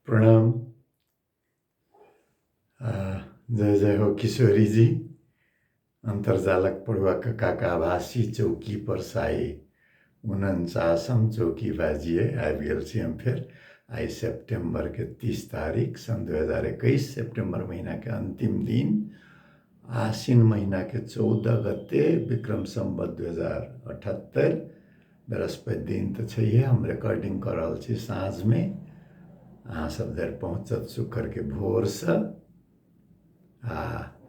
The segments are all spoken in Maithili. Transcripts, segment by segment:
प्रणाम जय जय हो किशोरीजी अन्तर्जालक पढुवाक काका आभासी चौकी पर साई उनचासम चौकी बाजिए आबि गेल छी हम फेर आइ सेप्टेम्बरके तीस तारीख सन् दू हजार एकैस सेप्टेम्बर महीनाके अन्तिम दिन आसिन महिनाके चौदह गते विक्रम सम्बत दुइ हजार अठहत्तरि बृहस्पति दिन तऽ छैहे हम रिकॉर्डिंग कऽ रहल छी साँझमे अहाँ सब धरि पहुँचत शुक्रके भोरसँ आ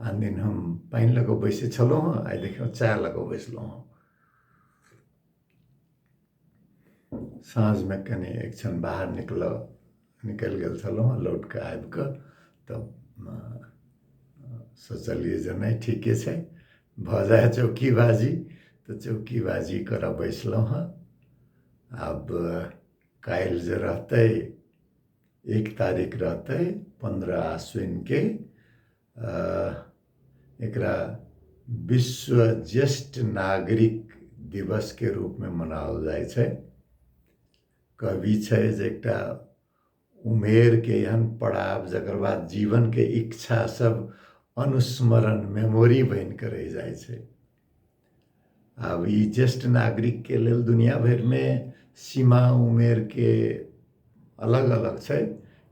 आन दिन हम पानि लऽ कऽ बैसै छलहुँ हँ आइ देखियौ चाय लऽ कऽ बैसलहुँ हँ साँझमे कनि एक क्षण बाहर निकलल निकलि गेल छलहुँ हँ लौट कऽ आबि कऽ तब सोचलियै जे नहि ठीके छै भऽ जाइ चौकीबाजी तऽ चौकीबाजी करऽ बैसलहुँ हँ आब काल्हि जे रहतै एक तारीख रहतै पन्द्रह आश्विनके एकरा विश्व ज्येष्ठ नागरिक दिवसके रूपमे मनाओल जाइ छै कवि छै जे एकटा उमेरके एहन पड़ाव जकर बाद जीवनके इच्छा सब अनुस्मरण मेमोरी बनिके रहि जाइ छै आब ई ज्येष्ठ नागरिकके लेल दुनिया भरिमे सीमा उमेरके अलग अलग छै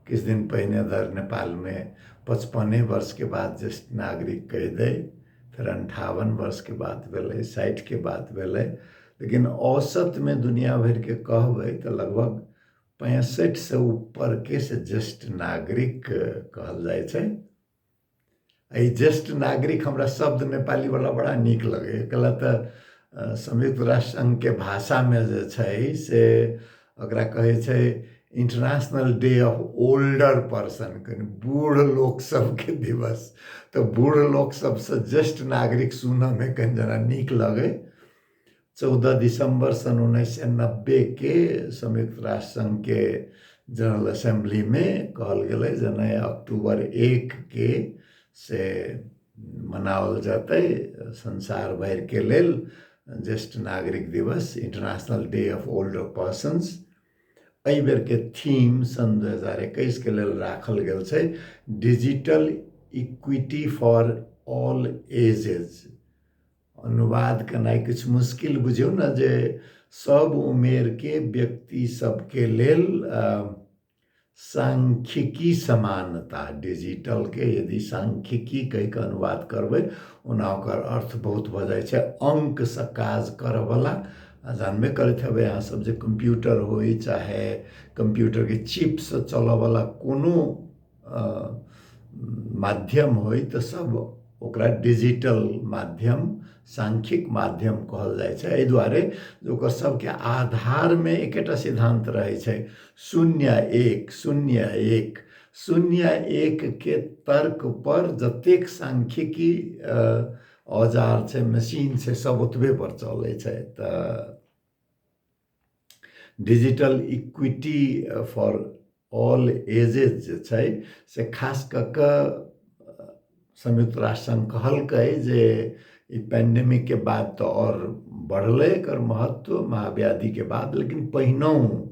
किछु दिन पहिने धरि नेपालमे पचपने वर्षके बाद ज्येष्ठ नागरिक कहि दै फेर अन्ठावन वर्षके बात भेलै साठिके बात भेलै लेकिन औसतमे दुनिया भरिके कहबै तऽ लगभग पैंसठिसँ ऊपरके से ज्येष्ठ नागरिक कहल जाइ छै एहि ज्येष्ठ नागरिक हमरा शब्द नेपालीवला बड़ा नीक लगैए कला तऽ संयुक्त राष्ट्र संघके भाषामे जे छै से ओकरा कहै छै international day of older person कनि बूढ़ लोक सबके दिवस तऽ बूढ़ लोक सबसँ ज्येष्ठ नागरिक सुनऽमे कनि जेना नीक लगै चौदह दिसंबर सन उन्नैस सए नब्बे के संयुक्त राष्ट्र संघ के जनरल असेंबली में कहल गेलै जे नहि अक्टूबर एक के से मनाओल जेतै संसार भरि के लेल ज्येष्ठ नागरिक दिवस international day of older persons एहि बेर के थीम सन दू हजार एकैस के लेल राखल गेल छै digital equity for all ages अनुवाद केनाइ किछु मुश्किल बुझियौ ने जे सब उमेर के व्यक्ति सबके लेल सांख्यिकी समानता डिजिटल के यदि सांख्यिकी कहि के अनुवाद करबै ओना ओकर अर्थ बहुत भऽ जाइ छै अंक से काज करयवला आ जानबे करैत हेबै अहाँ सब जे कंप्यूटर होय चाहे कंप्यूटर के चिप से चलयवला कोनो माध्यम होइ तऽ सब ओकरा डिजिटल माध्यम सांख्यिक माध्यम कहल जाइ छै एहि दुआरे जे ओकर सबके आधारमे एकेटा सिद्धान्त रहै छै शून्य एक शून्य एक शून्य एकके तर्क पर जतेक सांख्यिकी औजार छै मशीन छै सब ओतबे पर चलै छै तऽ digital equity for all ages जे छै से खास कऽ कऽ संयुक्त राष्ट्र संघ कहलकै जे ई पैंडेमिक के बाद तऽ आओर बढ़लै एकर महत्व महाव्याधि के बाद लेकिन पहिनहु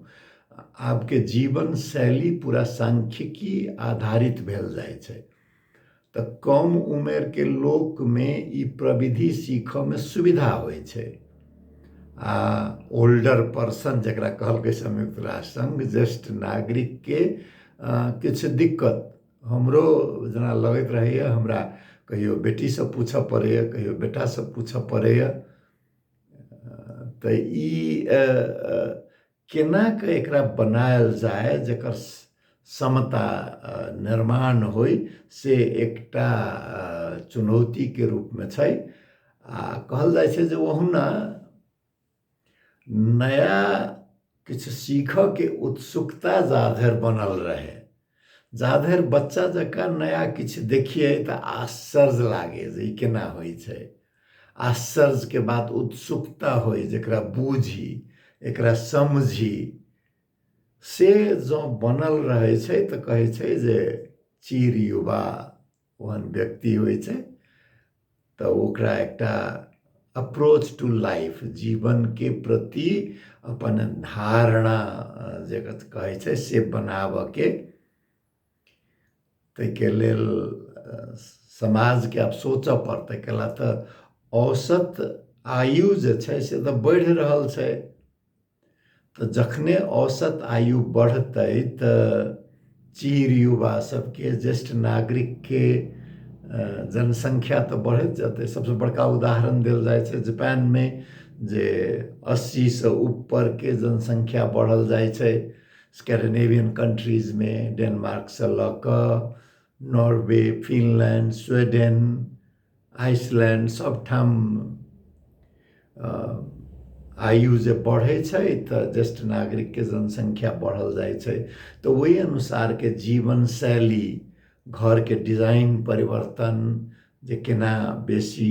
आबके जीवन शैली पूरा सांख्यिकी आधारित भेल जाइ छै तऽ कम उमेरके लोकमे ई प्रविधि सीखऽमे सुविधा होइ छै आ ओल्डर पर्सन जकरा कहलकै संयुक्त राष्ट्र संघ ज्येष्ठ नागरिकके किछु दिक्कत हमरो जेना लगैत रहैए हमरा कहियो बेटीसँ पूछऽ पड़ैए कहियो बेटासँ पूछऽ पड़ैए तऽ ई केनाक एकरा बनायल जाय जकर समता निर्माण होइ से एकटा चुनौतीके रूपमे छै आ कहल जाइ छै जे ओहुना नया किछु सीखऽके उत्सुकता जाधरि बनल रहै जाधरि बच्चा जकाँ नया किछु देखिए तऽ आश्चर्य लागे जे ई केना होइ छै आश्चर्यके बात उत्सुकता होइ जकरा बूझी एकरा समझी से जँ बनल रहै छै तऽ कहै छै जे चीर युवा ओहन व्यक्ति होइ छै तऽ ओकरा एकटा अप्रोच टू लाइफ जीवनके प्रति अपन धारणा जे कहै छै से बनाबऽके ताहिके लेल समाजके आब सोचऽ पड़तै कैला तऽ औसत आयु जे छै से तऽ बढ़ि रहल छै तऽ जखने औसत आयु बढ़तै तऽ चीर युवा सबके ज्येष्ठ नागरिकके जनसङ्ख्या तऽ बढ़ैत जेतै सबसँ बड़का उदाहरण देल जाइ छै जापानमे जे अस्सीसँ ऊपरके जनसङ्ख्या बढ़ल जाइ छै स्कैंडिनेवियन कंट्रीजमे डेनमार्कसँ लऽ कऽ नॉर्वे फिनलैंड स्वीडेन आइसलैंड सबठाम आयु जे बढ़ै छै तऽ ज्येष्ठ नागरिकके जनसङ्ख्या बढ़ल जाइ छै तऽ ओहि अनुसारके जीवन शैली घरके डिजाइन परिवर्तन जे केना बेसी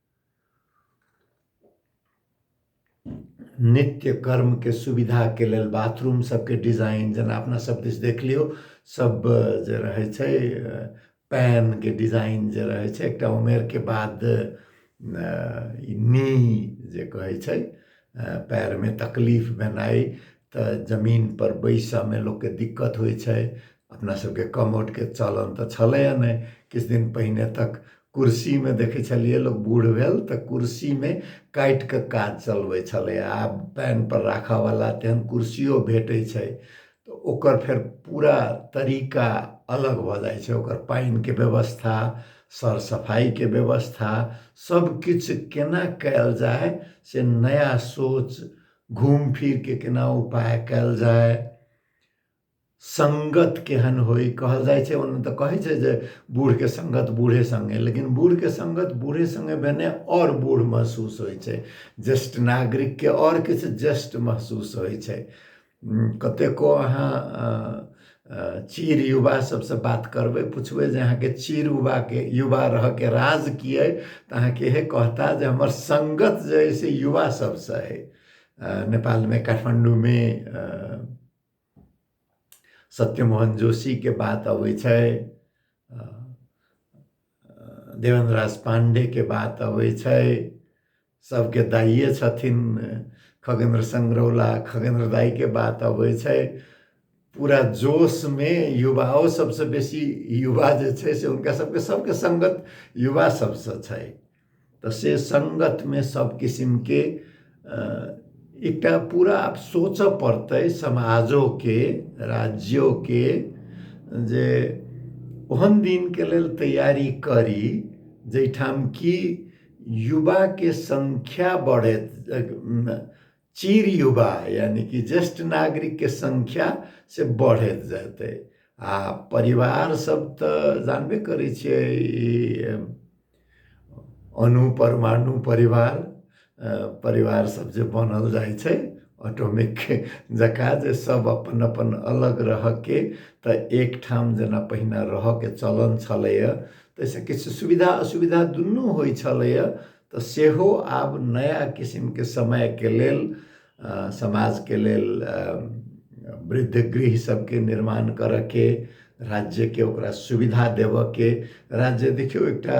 नित्य कर्म के सुविधा के लेल बाथरूम सबके डिजाइन जेना अपना सब दिस देख लियौ सब जे रहै छै पैन के डिजाइन जे रहै छै एकटा उमेर के बाद ई नी जे कहै छै पैर में तकलीफ भेनाइ तऽ जमीन पर बैसऽ में लोक के दिक्कत होइ छै अपना सबके कमोट के चलन तऽ छलैए नहि किछु दिन पहिने तक कुर्सीमे देखै छलियै लोक बूढ़ भेल तऽ कुर्सीमे काटि कऽ काज चलबै छलै आब पएनपर राखयवला तेहन कुर्सियो भेटै छै तऽ ओकर फेर पूरा तरीका अलग भऽ जाइ छै ओकर पानिके व्यवस्था सर सफाइके व्यवस्था सभकिछु केना कयल जाय से नया सोच घूमि फिरि कऽ केना उपाय कयल जाय सङ्गत केहन होइ कहल जाइ छै ओना तऽ कहै छै जे बूढ़के सङ्गत बूढ़े सङ्गे लेकिन बूढ़के सङ्गत बूढ़े सङ्गे भेने आओर बूढ़ महसूस होइ छै ज्येष्ठ नागरिकके आओर किछु ज्येष्ठ महसूस होइ छै कतेको अहाँ चीर युवा सबसँ बात करबै पुछबै जे अहाँके चीर युवाके युवा रहऽके राज की अइ तऽ अहाँके इहे कहता जे हमर सङ्गत जे अइ से युवा सबसँ अइ नेपालमे काठमाण्डूमे सत्यमोहन जोशीके बात अबै छै देवेन्द्र राज पाण्डेके बात अबै छै सबके दाइए छथिन खगेन्द्र सङ्ग्रौला खगेन्द्र दाइके बात अबै छै पूरा जोशमे युवाओ सबसँ बेसी युवा जे छै से हुनका सबके सबके सङ्गत युवा सबसँ छै तऽ से सङ्गतमे सब किसिमके एकटा पूरा आब सोचऽ पड़तै समाजोके राज्योके जे ओहन दिनके लेल तैयारी करी जाहिठाम कि युवाके सङ्ख्या बढ़ैत चिर युवा यानि कि ज्येष्ठ नागरिकके संख्या से बढ़ैत जेतै आ परिवार सब तऽ जानबे करै छियै ई अणु परमाणु परिवार परिवार सब जे बनल जाइ छै ऑटोमिक जकाँ जे सब अपन अपन अलग रहके तऽ एकठाम जेना पहिने रहऽके चलन छलैया ताहिसँ किछु सुविधा असुविधा दुनू होइ छलैया तऽ सेहो आब नया किसिमके समयके लेल समाजके लेल वृद्ध गृह सभके निर्माण करऽके राज्यके ओकरा सुविधा देबऽके राज्य देखियौ एकटा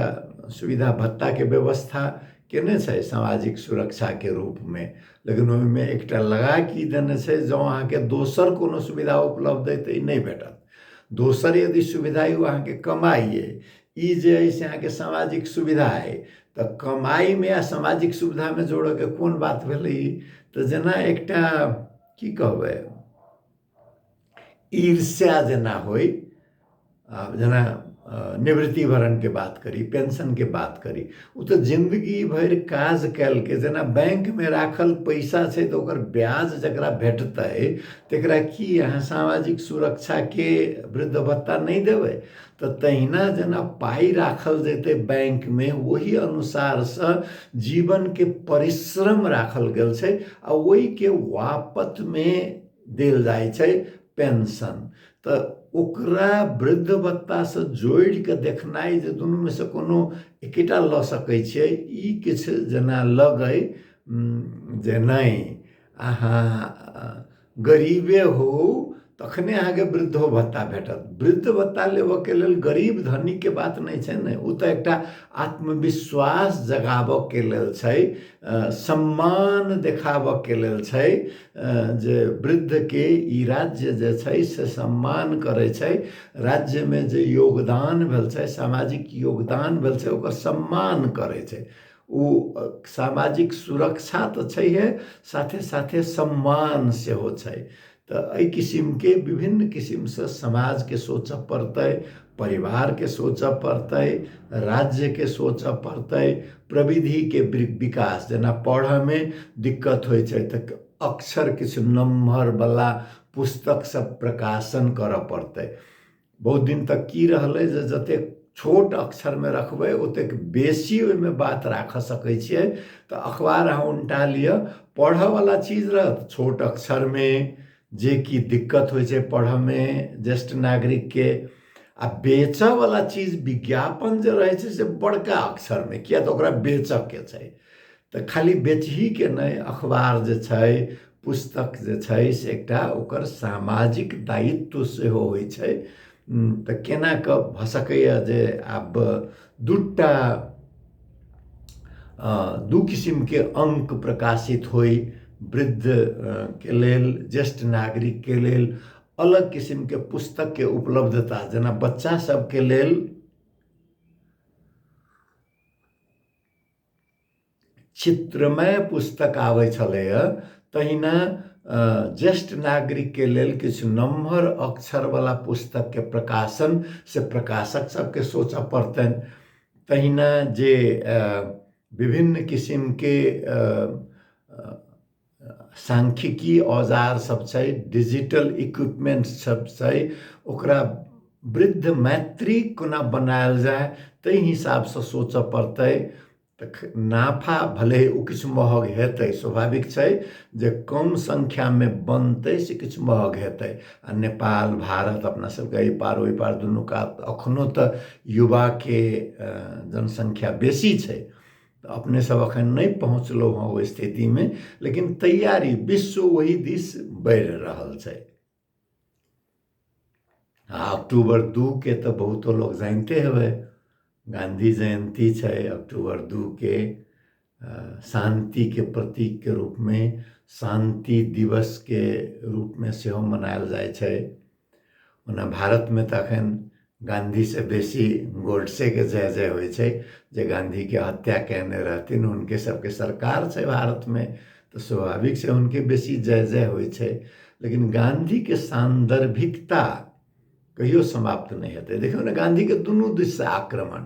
सुविधा भत्ताके व्यवस्था केने छै सामाजिक सुरक्षाके रूपमे लेकिन ओहिमे एकटा लगा की देने छै जँ अहाँके दोसर कोनो सुविधा उपलब्ध अइ तऽ ई नहि भेटत दोसर यदि सुविधा अइ ओ अहाँके कमाइ अइ ई जे अइ से अहाँके सामाजिक सुविधा अइ तऽ कमाइमे आ सामाजिक सुविधामे जोड़यके कोन बात भेलै ई तऽ जेना एकटा की कहबै ईर्ष्या जेना होइ आब जेना निवृत्ति भरणके बात करी पेंशनके बात करी ओ तऽ जिंदगी भरि काज कयलके जेना बैंकमे राखल पैसा छै तऽ ओकर ब्याज जकरा भेटतै तकरा की अहाँ सामाजिक सुरक्षाके वृद्ध भत्ता नहि देबै तऽ तहिना जेना पाइ राखल जेतै बैंकमे ओही अनुसारसँ जीवनके परिश्रम राखल गेल छै आ ओहिके वापतमे देल जाइ छै पेंशन तऽ ओकरा वृद्ध भत्तासँ जोड़ि कऽ देखनाइ जे दुनूमे सँ कोनो एकेटा लऽ सकै छियै ई किछु जेना लगय जे नहि अहाँ गरीबे होउ तखने अहाँके वृद्धो भत्ता भेटत वृद्ध भत्ता लेबऽके लेल गरीब धनीके बात नहि छै ने ओ तऽ एकटा आत्मविश्वास जगाबऽके लेल छै सम्मान देखाबऽके लेल छै जे वृद्धके ई राज्य जे छै से सम्मान करै छै राज्यमे जे योगदान भेल छै सामाजिक योगदान भेल छै ओकर सम्मान करै छै ओ सामाजिक सुरक्षा तऽ छैहे साथे साथे सम्मान सेहो छै तऽ एहि किसिमके विभिन्न किसिमसँ समाजके सोचऽ पड़तै परिवारके सोचऽ पड़तै राज्यके सोचऽ पड़तै प्रविधिके विकास जेना पढ़ऽमे दिक्कत होइ छै तऽ अक्षर किछु नमहरवला पुस्तक सब प्रकाशन करऽ पड़तै बहुत दिन तक की रहलै जे जतेक छोट अक्षरमे रखबै ओतेक बेसी ओहिमे बात राखऽ सकै छियै तऽ अखबार अहाँ उनटा लिअ पढ़ऽवला चीज रहत छोट अक्षरमे जे कि दिक्कत होइ छै पढ़ऽमे ज्येष्ठ नागरिकके आ बेचऽवला चीज विज्ञापन जे रहै छै से बड़का अक्षरमे किएक तऽ ओकरा बेचऽके छै तऽ खाली बेचहीके नहि अखबार जे छै पुस्तक जे छै से एकटा ओकर सामाजिक दायित्व सेहो होइ छै तऽ केना कऽ भऽ सकैए जे आब दूटा दू किसिमके अङ्क प्रकाशित होइ वृद्ध के लेल ज्येष्ठ नागरिकके लेल अलग किसिमके पुस्तकके उपलब्धता जेना बच्चा सभके लेल चित्रमय पुस्तक आबै छलैए तहिना ज्येष्ठ नागरिकके लेल किछु नमहर अक्षरवला पुस्तकके प्रकाशन से प्रकाशक सबके सोचऽ पड़तनि तहिना जे विभिन्न किसिमके सांख्यिकी औजार सब छै डिजिटल इक्विपमेंट सब छै ओकरा वृद्ध मैत्री कोना बनायल जाय ताहि हिसाबसँ सोचऽ पड़तै तऽ नाफा भले ओ किछु महग हेतै स्वाभाविक छै जे कम संख्यामे बनतै से किछु महग हेतै आ नेपाल भारत अपना सबके एहि पार ओहि पार दुनू कात अखनो तऽ युवाके जनसंख्या बेसी छै तऽ अपने सब अखन नहि पहुँचलहुँ हँ ओहि स्थितिमे लेकिन तैयारी विश्व ओहि दिस बढ़ि रहल छै आ अक्टूबर दू के तऽ बहुतो लोग जानिते हेबै गांधी जयंती छै अक्टूबर दू के शांति के प्रतीक के रूप में शांति दिवस के रूप में सेहो मनायल जाइ छै ओना भारतमे तऽ एखन गाँधीसँ बेसी गोडसेके जय जय होइ छै जे गाँधीके हत्या कयने रहथिन हुनके सभके सरकार छै भारतमे तऽ स्वाभाविक छै हुनके बेसी जय जय होइ छै लेकिन गाँधीके सान्दर्भिकता कहियो समाप्त नहि हेतै देखियौ ने गाँधीके दुनू दिससँ आक्रमण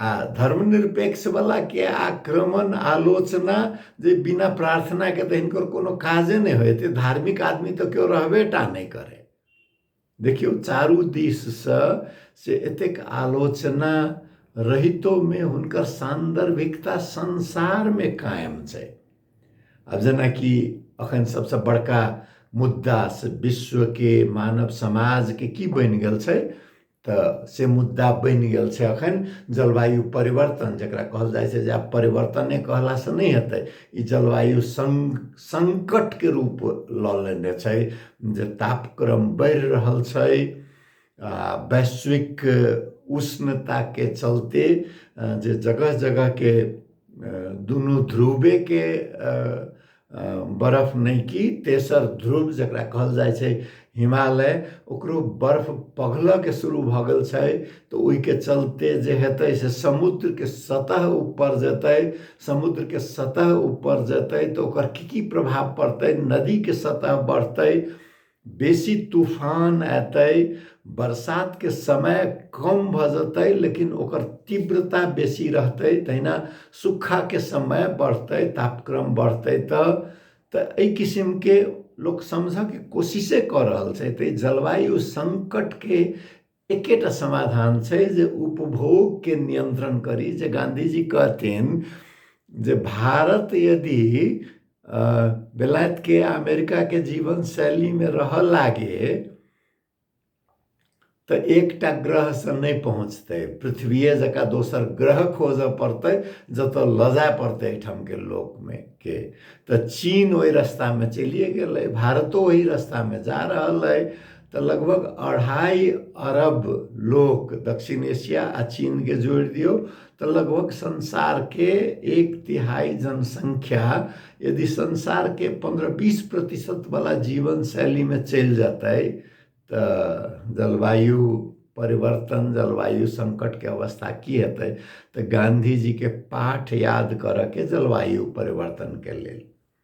आ धर्मनिरपेक्ष बला के आक्रमण आलोचना जे बिना प्रार्थना के तऽ हिनकर कोनो काजे नहि होय एते धार्मिक आदमी तऽ केओ रहबे टा नहि करे देखियौ चारू दिस से से एतेक आलोचना रहितो में हुनकर सान्दर्भिकता संसार में कायम छै आब जेनाकि अखन सबसे बड़का मुद्दा से विश्व के मानव समाज के की बनि गेल छै तऽ से मुद्दा बनि गेल छै एखन जलवायु परिवर्तन जकरा कहल जाइ छै जे आब परिवर्तने कहलासँ नहि हेतै ई जलवायु सं संकटके रूप लऽ लेने छै जे तापक्रम बढ़ि रहल छै आ वैश्विक उष्णताके चलते जे जगह जगहके दुनू ध्रुवेके बर्फ नहि कि तेसर ध्रुव जकरा कहल जाइ छै हिमालय ओकरो बर्फ पघलऽके शुरू भऽ गेल छै तऽ ओहिके चलते जे हेतै से समुद्रके सतह ऊपर जेतै समुद्रके सतह ऊपर जेतै तऽ ओकर की की प्रभाव पड़तै नदीके सतह बढ़तै बेसी तूफान एतै बरसातके समय कम भऽ जेतै लेकिन ओकर तीव्रता बेसी रहतै तहिना सुखाके समय बढ़तै तापक्रम बढ़तै तऽ तऽ एहि किसिमके लोक समझयके कोशिशे कऽ रहल छै तऽ ई जलवायु सङ्कटके एकेटा समाधान छै जे उपभोगके नियन्त्रण करी जे गाँधीजी कहथिन जे भारत यदि बेलायतके अमेरिकाके जीवन शैलीमे रह लागे तऽ एकटा ग्रहसँ नहि पहुँचतै पृथ्वीए जकाँ दोसर ग्रह खोजऽ पड़तै जतऽ लऽ जाय पड़तै एहिठामके लोकमे के तऽ चीन ओहि रस्तामे चलिए गेलै भारतो ओहि रस्तामे जा रहल अइ तऽ लगभग अढ़ाइ अरब लोक दक्षिण एशिया आ चीनके जोड़ि दियौ तऽ लगभग संसारके एक तिहाई जनसङ्ख्या यदि संसारके पन्ध्र बिस प्रतिशतवला जीवनशैलीमे चलि जेतै तऽ जलवायु परिवर्तन जलवायु सङ्कटके अवस्था की हेतै तऽ गाँधीजीके पाठ याद करऽके जलवायु परिवर्तनके लेल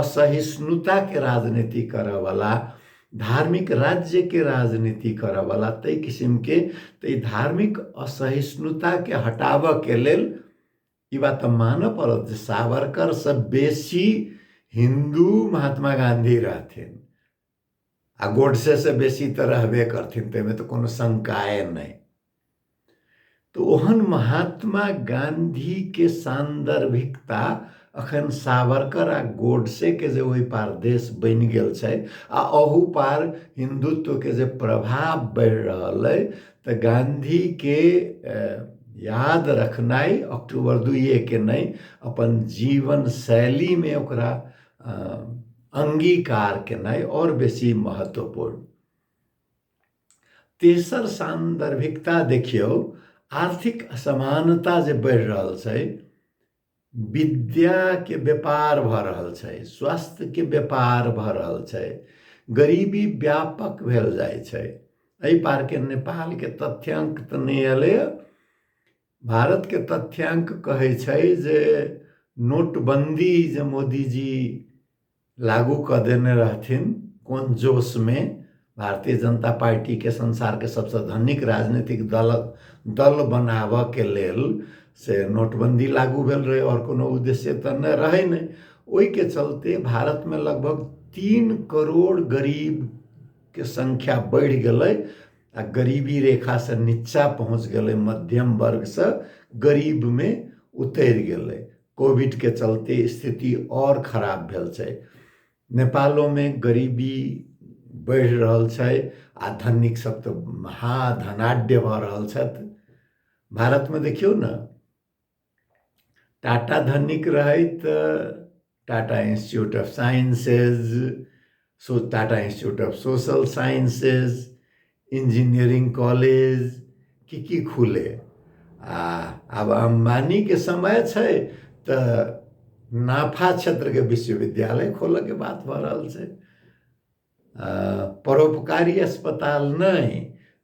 असहिष्णुता के राजनीति करे वाला धार्मिक राज्य के राजनीति करे वाला तय किसिम के तय धार्मिक असहिष्णुता के हटाब के लेल ई बात मान पड़त जे सावरकर से बेसी हिंदू महात्मा गांधी रहथिन आ गोडसे से बेसी तऽ रहबे करथिन ताहिमे तऽ कोनो शंकाए नहि तऽ ओहन महात्मा गांधीके सान्दर्भिकता अखन सावरकर आ गोडसेके जे ओहि पार देश बनि गेल छै आ अहू पार हिन्दुत्वके जे प्रभाव बढ़ि रहल अइ तऽ गांधीके याद रखनाइ अक्टूबर दुइएके नहि अपन जीवन शैलीमे ओकरा अंगीकार केनाइ और बेसी महत्वपूर्ण तेसर सान्दर्भिकता देखियौ आर्थिक असमानता जे बढ़ि रहल छै विद्याके व्यापार भऽ रहल छै स्वास्थ्यके व्यापार भऽ रहल छै गरीबी व्यापक भेल जाइ छै एहि पारके नेपालके तथ्यांक तऽ नहि एलैए भारतके तथ्याङ्क कहै छै जे नोटबन्दी जे मोदीजी लागू कऽ देने रहथिन कोन जोशमे भारतीय जनता पार्टीके संसारके सबसँ धनिक राजनीतिक दल दल बनाबऽके लेल से नोटबन्दी लागू भेल रहै आओर कोनो उद्देश्य तऽ नहि रहै नहि ओहिके चलते भारतमे लगभग तीन करोड़ गरीबके संख्या बढ़ि गेलै आ गरीबी रेखासँ नीचाँ पहुँच गेलै मध्यम वर्गसँ गरीबमे उतरि गेलै कोविडके चलते स्थिति आओर खराब भेल छै नेपालोमे गरीबी बढ़ि रहल छै आ धनिक सभ तऽ महाधनाढ्य भऽ रहल छथि भारतमे देखियौ ने टाटा धनिक रहैत टाटा इंस्टीट्यूट ऑफ साइंसेज सो Tata institute of social sciences engineering college की की खुले आ आब अम्बानीके समय छै तऽ नाफा क्षेत्रके विश्वविद्यालय खोलऽके बात भऽ रहल छै परोपकारी अस्पताल नहि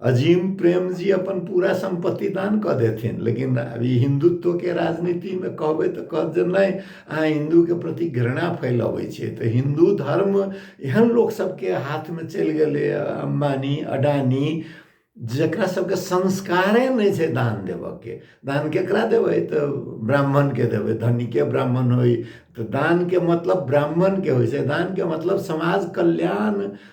अजीम प्रेम जी अपन पूरा सम्पत्ति दान कऽ देथिन लेकिन अब ई हिन्दुत्वके राजनीतिमे कहबै तऽ कहत जे नहि अहाँ हिन्दूके प्रति घृणा फैलबै छियै तऽ हिन्दू धर्म एहन लोक सबके हाथमे चलि गेलै अम्बानी अडानी जकरा सबके संस्कारे नहि छै दान देबऽके दान केकरा देबै तऽ ब्राह्मणके देबै धनीके ब्राह्मण होइ तऽ दानके मतलब ब्राह्मणके होइ छै दानके मतलब समाज कल्याण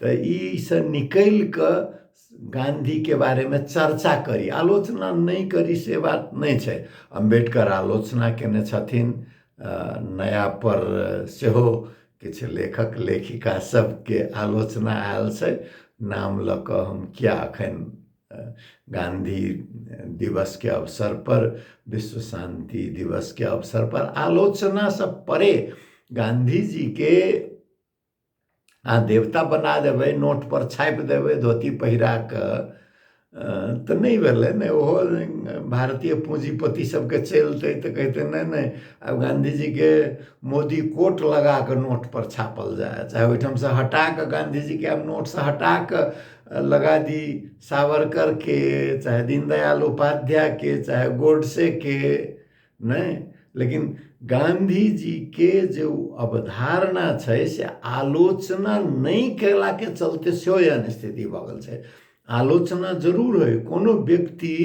तऽ ईसँ निकलि कऽ गाँधीके बारेमे चर्चा करी आलोचना नहि करी से बात नहि छै अम्बेडकर आलोचना कयने छथिन नयापर सेहो किछु लेखक लेखिका सभके आलोचना आयल छै नाम लऽ कऽ हम किया एखन गाँधी दिवसके अवसरपर विश्व शान्ति दिवसके अवसरपर आलोचनासँ परे गाँधीजीके अहाँ देवता बना देबै नोटपर छापि देबै धोती पहिरा कऽ तऽ नहि भेलै ने ओहो भारतीय पूँजीपति सबके चलतै तऽ कहतै नहि नहि आब गाँधीजीके मोदी कोट लगा कऽ नोटपर छापल जाय चाहे ओहिठामसँ हटा कऽ गाँधीजीके आब नोटसँ हटा कऽ लगा दी सावरकरके चाहे दीनदयाल उपाध्यायके चाहे गोडसेके नै लेकिन गाँधीजीके जे ओ अवधारणा छै से आलोचना नहि कयलाके चलते सेहो एहन स्थिति भऽ गेल छै आलोचना जरूर होइ कोनो व्यक्ति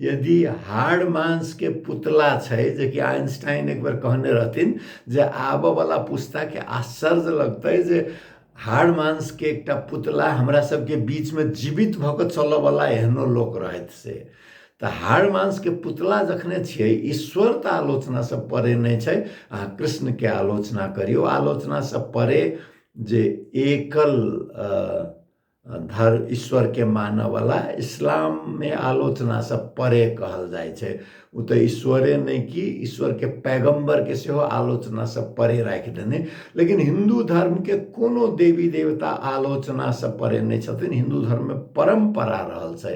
यदि हाड़ मांसके पुतला छै जेकि आइंस्टाइन एक बेर कहने रहथिन जे आबयवला पुस्ताके आश्चर्य लगतै जे हाड़ मांसके एकटा पुतला हमरा सबके बीचमे जीवित भऽ कऽ चलयवला एहनो लोक रहथि से तऽ हाड़ मांसके पुतला जखने छियै ईश्वर तऽ आलोचनासँ परे नहि छै अहाँ कृष्णके आलोचना करियौ आलोचनासँ परे जे एकल धर्म ईश्वरके मानयवला इस्लाममे आलोचनासँ परे कहल जाइ छै ओ तऽ ईश्वरे नहि कि ईश्वरके पैगम्बरके सेहो आलोचनासँ परे राखि देने लेकिन हिन्दू धर्मके कोनो देवी देवता आलोचनासँ परे नहि छथिन हिन्दू धर्ममे परम्परा रहल छै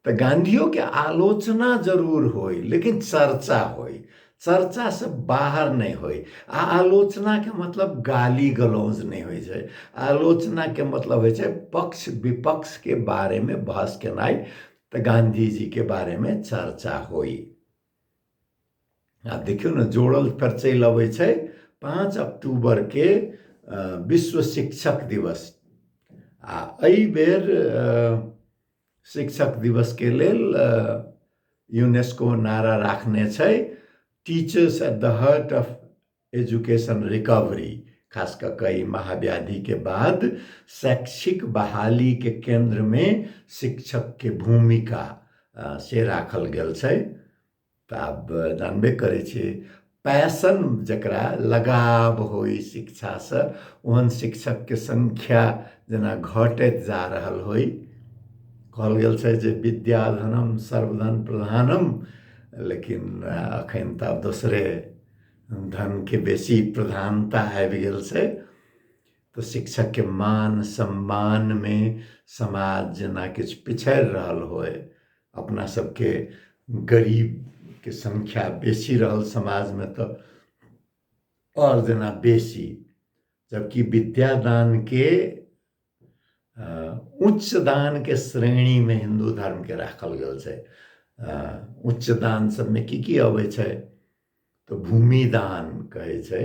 तऽ गांधीओ के आलोचना जरूर होय लेकिन चर्चा होय चर्चा से बाहर नहि होय आ आलोचना के मतलब गाली गलौज नहि होइ छै आलोचना के मतलब होइ छै पक्ष विपक्ष के बारे में बहस केनाइ तऽ गांधी जी के बारे में चर्चा होय आ देखियौ ने जोड़ल फेर चलि अबै छै पाँच अक्टूबर के अ, विश्व शिक्षक दिवस आ एहि बेर अ, शिक्षक दिवस के लेल यूनेस्को नारा राखने छै teachers at the heart of education recovery खास कऽ कऽ ई महाव्याधिके बाद शैक्षिक बहालीके केन्द्रमे शिक्षकके भूमिका से राखल गेल छै तऽ आब जानबे करै छी पैसन जकरा लगाव होइ शिक्षासँ ओहन शिक्षकके संख्या जेना घटैत जा रहल होइ कहल गेल छै जे विद्याधनम सर्वधन प्रधानम लेकिन अखन तऽ आब दोसरे धनके बेसी प्रधानता आबि गेल छै तऽ शिक्षकके मान सम्मानमे समाज जेना किछु पिछड़ि रहल होय अपना सबके गरीबके संख्या बेसी रहल समाजमे तऽ आओर जेना बेसी जबकि विद्यादानके उच्च दानके श्रेणीमे हिन्दू धर्मके राखल गेल छै उच्च दान सबमे की की अबै छै तऽ भूमिदान कहै छै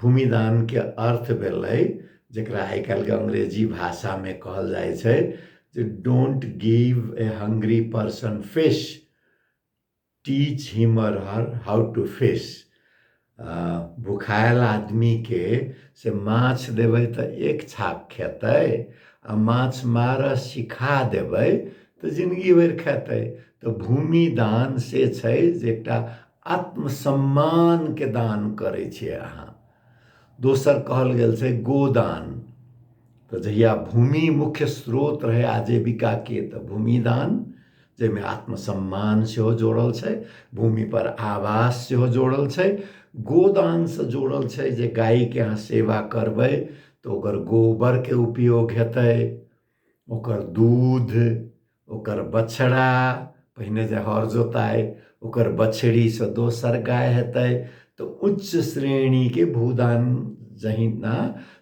भूमिदानके अर्थ भेलै जकरा आइ काल्हिके अंग्रेजी भाषामे कहल जाइ छै जे don't give a hungry person fish teach him or her how to fish भुखायल आदमीके से माछ देबै तऽ एक छाप खेतै आ माछ मारऽ सिखा देबै तऽ जिनगी भरि खेतै तऽ भूमि दान से छै जे एकटा आत्मसम्मानके दान करै छियै अहाँ दोसर कहल गेल छै गोदान तऽ जहिया भूमि मुख्य स्रोत रहै आजीविकाके तऽ भूमि दान जाहिमे आत्मसम्मान सेहो जोड़ल छै भूमिपर आवास सेहो जोड़ल छै गोदानसँ जोड़ल छै जे गायके अहाँ सेवा करबै तऽ ओकर गोबरके उपयोग हेतै ओकर दूध ओकर बछड़ा पहिने जे हर जोताय ओकर बछड़ीसँ दोसर गाय हेतै तऽ उच्च श्रेणीके भूदान जहिना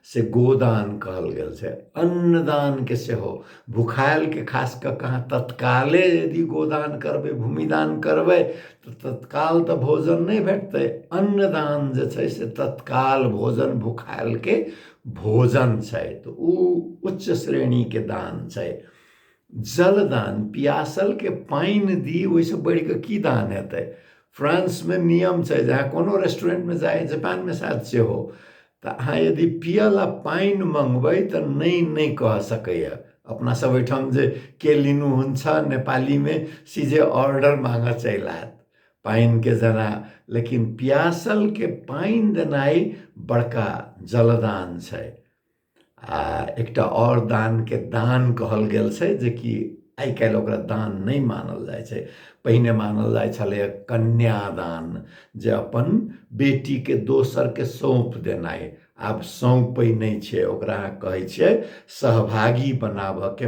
से गोदान कहल गेल छै अन्नदानके सेहो भुखायलके खास कऽ कऽ अहाँ तत्काले यदि गोदान करबै भूमिदान करबै तऽ तत्काल तऽ भोजन नहि भेटतै अन्नदान जे छै से तत्काल भोजन भुखायलके भोजन छै तऽ ओ उच्च श्रेणीके दान छै जलदान पियासलके पानि दी ओहिसँ बढ़िकऽ की दान हेतै फ्रांसमे नियम छै जे अहाँ कोनो रेस्टोरेंटमे जाइ जापानमे साथ सेहो तऽ अहाँ यदि पियै लए पानि मँगबै तऽ नहि नहि कह सकैए अपना सब ओहिठाम जे के लिनु हुन्छ नेपालीमे सीधे ऑर्डर माँगऽ चलि आयत पानिके जरा लेकिन प्यासलके पानि देनाइ बड़का जलदान छै आ एकटा आओर दानके दान कहल गेल छै जेकि आइ काल्हि ओकरा दान नहि मानल जाइ छै पहिने मानल जाइ छलैए कन्यादान जे अपन बेटीके दोसरके सौँप देनाइ आब सौँपै नहि छै ओकरा अहाँ कहै छियै सहभागी बनाबयके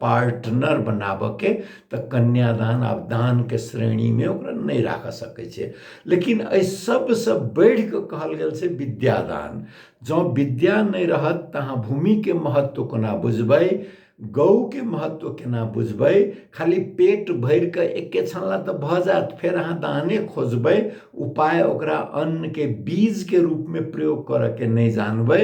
पार्टनर बनाबऽके तऽ कन्यादान आब दानके श्रेणीमे ओकरा नहि राखऽ सकै छै लेकिन एहि सबसँ बढ़ि कऽ कहल गेल छै विद्यादान जँ विद्या नहि रहत तऽ अहाँ भूमिके महत्व कोना बुझबै गौके महत्व केना बुझबै खाली पेट भरि कऽ एके छानला तऽ भऽ जायत फेर अहाँ दाने खोजबै उपाय ओकरा अन्नके बीजके रूपमे प्रयोग करऽके नहि जानबै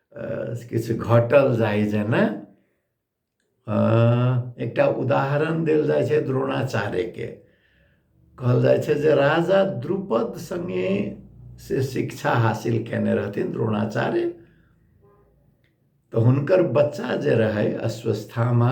किछु घटल जाइ जेना एकटा उदाहरण देल जाइ छै द्रोणाचार्यके कहल जाइ छै जे राजा द्रुपद सङ्गे से शिक्षा हासिल कयने रहथिन द्रोणाचार्य तऽ हुनकर बच्चा जे रहै अश्वस्थामा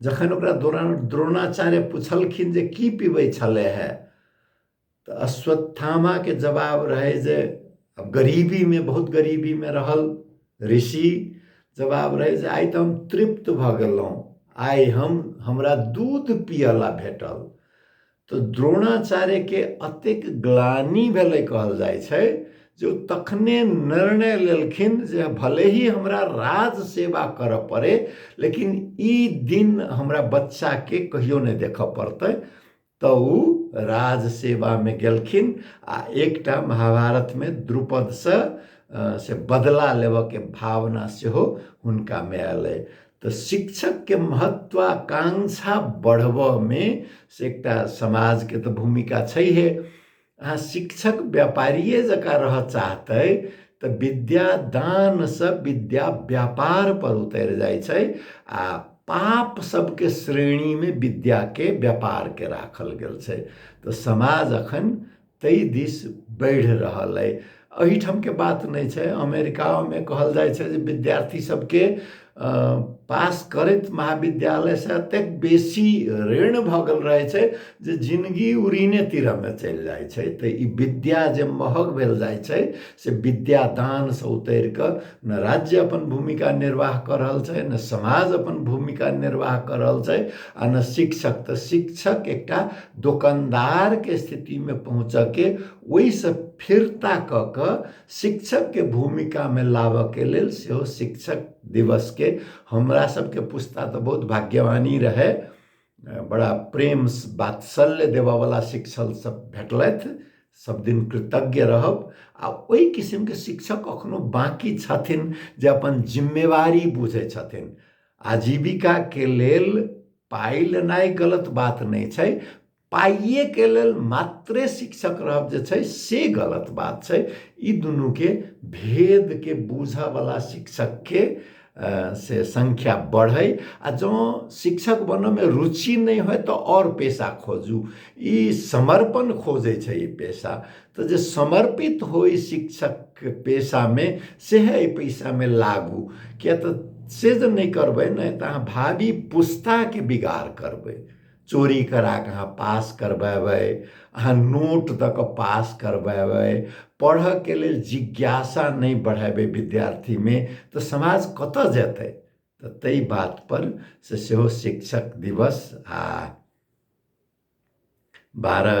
जखन ओकरा द्रोणाचार्य पुछलखिन जे की पीबै छलै है तऽ अश्वत्थामाके जवाब रहै जे अब गरीबीमे बहुत गरीबीमे रहल ऋषि जवाब रहै जे आइ तऽ हम तृप्त भऽ गेलहुँ आइ हम हमरा दूध पियला भेटल तऽ द्रोणाचार्यके अतेक ग्लानी भेलै कहल जाइ छै जे ओ तखने निर्णय लेलखिन जे भले ही हमरा राज सेवा करऽ पड़े लेकिन ई दिन हमरा बच्चाके कहियो नहि देखऽ पड़तै तऽ ओ राज सेवामे गेलखिन आ एकटा महाभारतमे द्रुपदसँ से बदला लेबऽके भावना सेहो हुनकामे अयलै तऽ शिक्षकके महत्वाकांक्षा बढ़बऽमे से एकटा समाजके तऽ भूमिका छैहे अहाँ शिक्षक व्यापारिए जकाँ रहऽ चाहतै तऽ विद्या दानसँ विद्या व्यापार पर उतरि जाइ छै आ पाप सबके श्रेणीमे विद्याके व्यापारके राखल गेल छै तऽ समाज अखन ताहि दिस बढ़ि रहल अइ एहिठामके बात नहि छै अमेरिकामे कहल जाइ छै जे विद्यार्थी सबके पास करैत महाविद्यालयसँ एतेक बेसी ऋण भऽ गेल रहै छै जे जिनगी उरीने तीरमे चलि जाइ छै तऽ ई विद्या जे महग भेल जाइ छै से विद्यादानसँ उतरि कऽ ने राज्य अपन भूमिका निर्वाह कऽ रहल छै ने समाज अपन भूमिका निर्वाह कऽ रहल छै आ ने शिक्षक तऽ शिक्षक एकटा दोकानदारके स्थितिमे पहुँचऽके ओहिसँ फिर्ता कऽ कऽ शिक्षकके भूमिकामे लाबऽके लेल सेहो शिक्षक दिवसके हमरा सभके पुस्ता तऽ बहुत भाग्यवानी रहै बड़ा प्रेम वात्सल्य देबऽवला शिक्षक सब भेटलथि सब दिन कृतज्ञ रहब आ ओहि किसिमके शिक्षक अखनो बाँकी छथिन जे अपन जिम्मेवारी बुझै छथिन आजीविकाके लेल पाइ लेनाइ गलत बात नहि छै पाइएके लेल मात्रे शिक्षक रहब जे छै से गलत बात छै ई दुनूके भेदके बुझऽवला शिक्षकके से सङ्ख्या बढ़य आ जँ शिक्षक बनयमे रुचि नहि होय तऽ आओर पेशा खोजू ई समर्पण खोजै छै ई पेशा तऽ जे समर्पित होइ शिक्षक पेशामे सएह एहि पेशामे लागू किएक तऽ से जे नहि करबै ने तऽ अहाँ भावी पुस्ताके बिगाड़ करबै चोरी करा कऽ अहाँ पास करबेबै अहाँ नोट दऽ कऽ पास करबेबै पढ़यके लेल जिज्ञासा नहि बढ़ेबै विद्यार्थीमे तऽ समाज कतय जेतै तऽ ताहि बातपर से सेहो शिक्षक दिवस आ बारह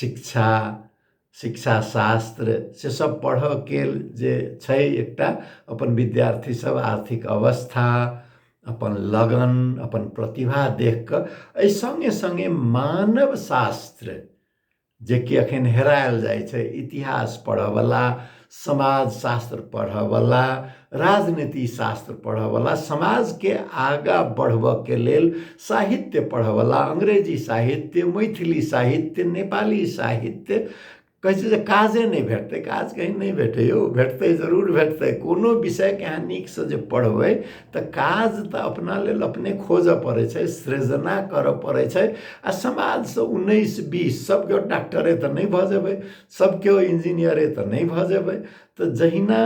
शिक्षा शिक्षा शास्त्र से सब पढ़ऽके जे छै एकटा अपन विद्यार्थी सब आर्थिक अवस्था अपन लगन अपन प्रतिभा देख कऽ एहि सङ्गे सङ्गे मानव शास्त्र जेकि अखन हेरायल जाइ छै इतिहास पढ़ऽवला समाज शास्त्र पढ़ऽवला राजनीति शास्त्र पढ़ऽवला समाजके आगाँ बढ़बऽके लेल साहित्य पढ़ऽवला अंग्रेजी साहित्य मैथिली साहित्य नेपाली साहित्य कहै छै जे काजे नहि भेटतै काज कहीं नहि भेटै यौ भेटतै जरूर भेटतै कोनो विषयके अहाँ नीकसँ जे पढ़बै तऽ काज तऽ अपना लेल अपने खोजऽ पड़ै छै सृजना करऽ पड़ै छै आ समाजसँ उन्नैस बीस सभके डॉक्टरे तऽ नहि भऽ जेबै सब केओ इंजीनियरे तऽ नहि भऽ जेबै तऽ जहिना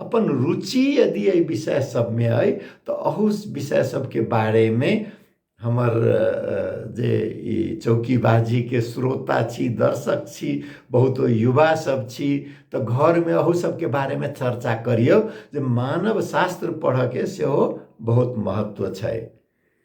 अपन रुचि यदि एहि विषय सबमे अइ तऽ अहू विषय सबके बारेमे हमर जे ई चौकीबाजीके श्रोता छी दर्शक छी बहुत युवा सब छी तऽ घरमे अहू सबके बारेमे चर्चा करियौ जे मानव शास्त्र पढ़ऽके सेहो बहुत महत्व छै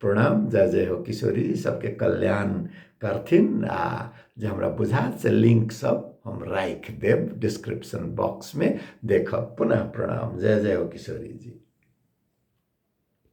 प्रणाम जय जय हो किशोरी सबके कल्याण करथिन आ जे हमरा बुझात से लिंक सब हम राख देव डिस्क्रिप्शन बॉक्स में देखब पुनः प्रणाम जय जय हो किशोरी जी